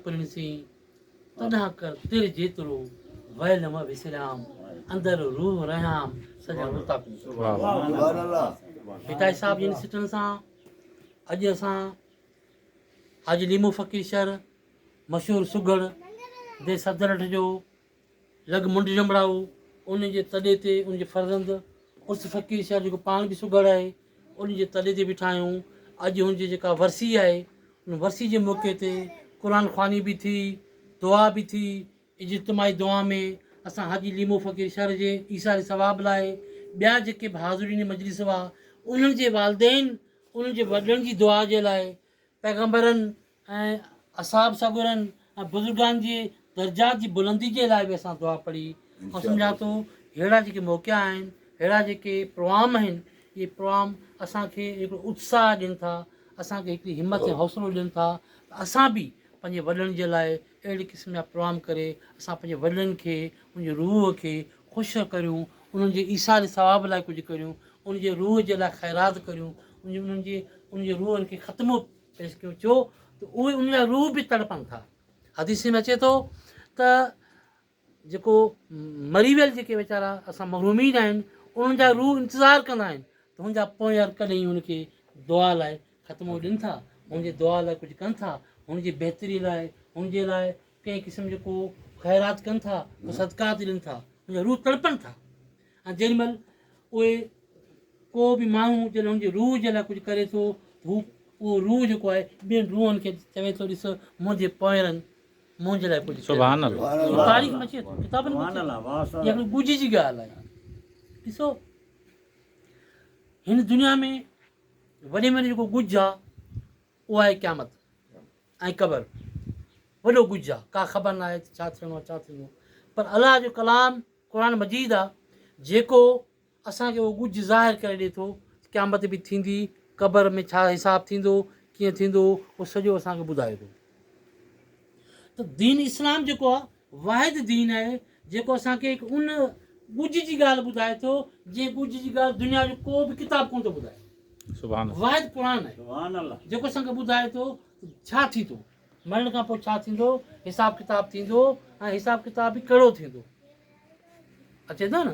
پرڻسي تڏهن ڪر تر جيترو ويل م وسريام اندر روح رهيام سڄڻ متاڪون ڀٽائي صاحب جن سٽن سان اڄ اسان حاجي ليمو فقير شهر مشهور سگهڙ دي سدرٺ جو لڳ منڍ ڄنڀڙائو، ان جي تڏي تي ان جي فرزند عرس فقير شاهه جيڪو پاڻ به سگهڙ آهي، ان جي تڏي تي بيٺا آهيون. اڄ هن جي جيڪا ورسي آهي، ان ورسي جي موقعي تي قرآن خواني به ٿي، دعا به ٿي، اجتماعي دعا ۾ اسان حاجي ليمو فقير شر جي ايثار ثواب لاء ٻيا جيڪي به حاضرين مجلس هئا، انهن جي والدين، انهن جي وڏڙن جي دعا جي لاء پيغمبرن ۽ اصحاب سڳورن ۽ بزرگان جي درجات جي بلندي جي لاء به اسان دعا پڙهي آئون سمجهان ٿو ههڙا جيڪي موقعا آهن ههڙا جيڪي پروام آهن اهي پروام اسان کي هڪڙو اتساهه ڏين ٿا اسان کي هڪڙي همت ۽ حوصلو ڏين ٿا ته اسان به پنهنجي وڏن جي لاء اهڙي قسم جا پروام ڪري اسان پنهنجي وڏن کي ان جي روح کي خوش ڪريون، انهن جي ايثار ثواب لاء ڪجهه ڪريون، انهن جي روح جي لاء خيرات ڪريون، انهن جي انهن جي روحن کي ختمو پيش ڪيون ڇو ته اهي انهن جا روح به تڙپن ٿا. حديث ۾ اچي ٿو ته جيڪو مري ويل جيڪي ويچارا اسان محرومين آهن انهن جا روح انتظار ڪندا آهن ته هن جا پونئر ڪڏهن هن کي دعا لاء ختمو ڏين ٿا، هن جي دعا لاء ڪجهه ڪن ٿا، هن جي بهتري لاء، هن جي لاء ڪنهن قسم جو ڪو خيرات ڪن ٿا ڪو صدقات ڏين ٿا ان جا روح تڙپن ٿا ۽ جنهن مهل اهي ڪو به ماڻهو جڏهن ان جي روح جي لاء ڪجهه ڪري ٿو هو اهو روح جيڪو آهي ٻين روحن کي چوي ٿو ڏس منهنجي پوئرن منهنجي لاء ڪجهه سبحان الله تاريخ مچي ٿو ڪتابن مان اها ڳجهي جي ڳالهه آهي ڏسو هن دنيا ۾ وڏي ۾ وڏي جيڪو ڳجهه آهي اهو آهي قيامت ۽ قبر وڏو ڪجهه آ ڪا خبر ناهي ته ڇا ٿيڻو آ ڇا ٿيندو پر الله جو ڪلام قرآن مجيد آ جيڪو اسان کي اهو ڪجهه ظاهر ڪري ڏي ٿو ته قيامت به ٿيندي قبر ۾ ڇا حساب ٿيندو ڪيئن ٿيندو اهو سڄو اسان کي ٻڌائي ٿو ته دين اسلام جيڪو آ واحد دين آهي جيڪو اسان کي هڪ ان ڳجهه جي ڳالهه ٻڌائي ٿو جنهن ڳجهه جي ڳالهه دنيا جو ڪو به ڪتاب ڪونه ٿو ٻڌائي. واحد قرآن آهي جيڪو اسان کي ٻڌائي ٿو ته ڇا ٿيندو، مرڻ کان پوء ڇا ٿيندو، حساب ڪتاب ٿيندو ۽ حساب ڪتاب به ڪهڙو ٿيندو. اچي ٿو نه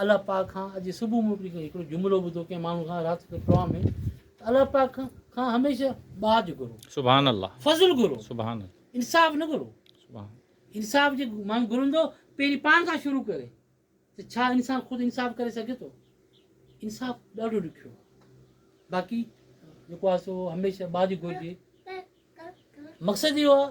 الله پاڪ کان اڄ صبح مون هڪڙي هڪڙو جملو ٻڌو ڪنهن ماڻهو کان رات جو پروگرام ۾ ته الله پاڪ کان هميشه ٻاجهه گهرو سبحان الله فضل گهرو سبحان الله انصاف نه گهرو سبحان انصاف جي ماڻهو گهرندو پهرين پاڻ کان شروع ڪري ته ڇا انسان خود انصاف ڪري سگهي ٿو انصاف ڏاڍو ڏکيو باقي جيڪو آهي سو هميشه ٻاجهه گهرجي مقصد اهو آهي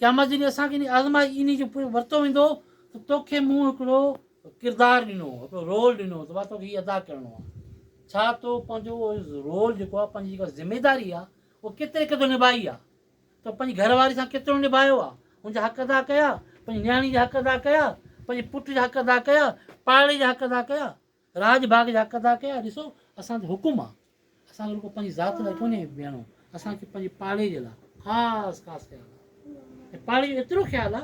قيامت جي ڏينهن اسان کي آزمائي انهي جو پڻ ورتو ويندو ته توکي مون هڪڙو ڪردار ڏنو هو هڪڙو رول ڏنو هو ته مان توکي هي ادا ڪرڻو آهي ڇا تو پنهنجو رول جيڪو آهي پنهنجي جيڪا ذميداري آهي اهو ڪيتري قدر نڀائي آهي تو پنهنجي گهر واري سان ڪيترو نڀايو آهي هن جا حق ادا ڪيا پنهنجي نياڻي جا حق ادا ڪيا پنهنجي پٽ جا حق ادا ڪيا پاڙي جا حق ادا ڪيا راڄ ڀاڳ جا حق ادا ڪيا، ڏسو اسان تي حڪم آ، اسان کي رڳو پنهنجي ذات لاء ڪونهي بيهڻو، اسان کي پنهنجي پاڙي جي لاء خاص خاص خيال آ ۽ پاڙي جو ايترو خيال آ،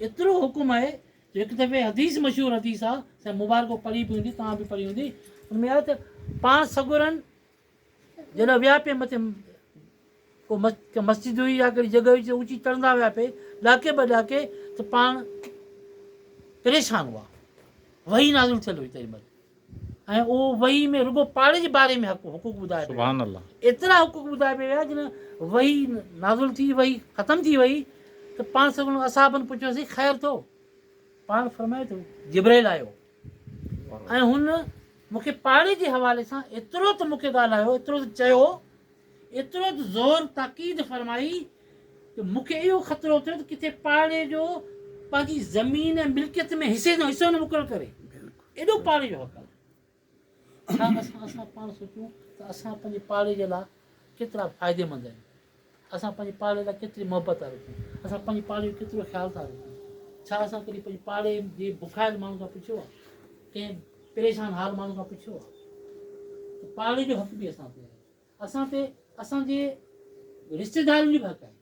ايترو حڪم آهي جو هڪ دفعي حديث مشهور حديث آ، سائين مبارڪ پڙهي به هوندي، توهان به پڙهي هوندي، ان ۾ آهي ته پاڻ سڳورن جڏهن ويا پئي مٿي ڪو مسجد هئي يا ڪهڙي جڳهه هئي جي اوچي چڙهندا ويا پئي ڏاڪي ٻه ڏاڪي ته پاڻ پريشان هئا وحي نازل ٿيل هئي تيمل ۽ اهو وحي ۾ رڳو پاڙي جي باري ۾ حقوق ٻڌايا سبحان الله ايترا حقوق ٻڌايا پئي ويا جن وحي نازل ٿي وحي ختم ٿي وئي ته پاڻ سڀ اصحابن پڇيوسي خير ٿو پاڻ فرمايو ته جبرائيل آيو ۽ هن مون کي پاڙي جي حوالي سان ايترو ته مون کي ڳالهايو، ايترو ته چيو، ايترو ته زور تاڪيد فرمائي ته مون کي اهو خطرو ٿيو ته ڪٿي پاڙي جو پنهنجي زمين ۽ ملڪيت ۾ حصي جو حصو نه مقرر ڪري. ايڏو پاڙي جو حق آهي. ڇا اسان اسان پاڻ سوچون ته اسان پنهنجي پاڙي جي لاء ڪيترا فائديمند آهيون؟ اسان پنهنجي پاڙي لاء ڪيتري محبت ٿا رکون؟ اسان پنهنجي پاڙي جو ڪيترو خيال ٿا رکون؟ ڇا اسان ڪڏهن پنهنجي پاڙي جي بکايل ماڻهن کان پڇيو آهي؟ ڪنهن پريشان حال ماڻهن کان پڇيو آهي؟ ته پاڙي جو حق به اسان تي آهي اسان تي اسان جي رشتيدارن جو به حق آهي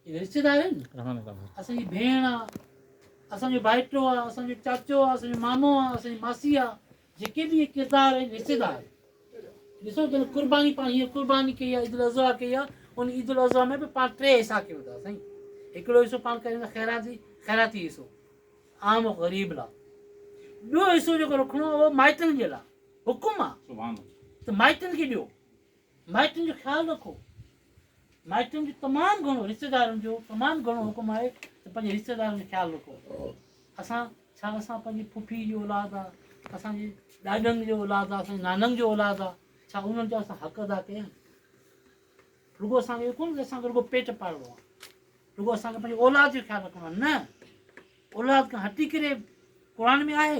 هي رشتيدار آهن اسان جي ڀيڻ آهي اسان جو ڀائٽو آهي اسان جو چاچو آهي اسان جو مامو آهي اسان جي ماسي آهي جيڪي به اهي ڪردار آهن حصيدار آهن ڏسو جن قرباني پاڻ هيئن قرباني ڪئي آهي عيد الاضحيٰ ڪئي آهي ان عيد الاضحيٰ ۾ به پاڻ ٽي حصا ڪيو ٿا سائين هڪڙو حصو پاڻ ڪيو ٿا خيراتي خيراتي حصو عام غريب لاء ٻيو حصو جيڪو رکڻو اهو مائٽن جي لاء حڪم آهي ته مائٽن کي ڏيو مائٽن جو خيال رکو. مائٽن جو تمام گهڻو رشتيدارن جو تمام گهڻو حڪم آهي ته پنهنجي رشتيدارن جو خيال رکو. اسان ڇا اسان پنهنجي ڦڦي جو اولاد آ اسان جي ڏاڏن جو اولاد آ اسان نانن جو اولاد آ ڇا انهن جا اسان حق ادا ڪيا رڳو اسان کي ڪون اسان کي رڳو پيٽ پالڻو آ رڳو اسان کي پنهنجي اولاد جو خيال رکڻو آ نه اولاد کان هٽي ڪري قرآن ۾ آهي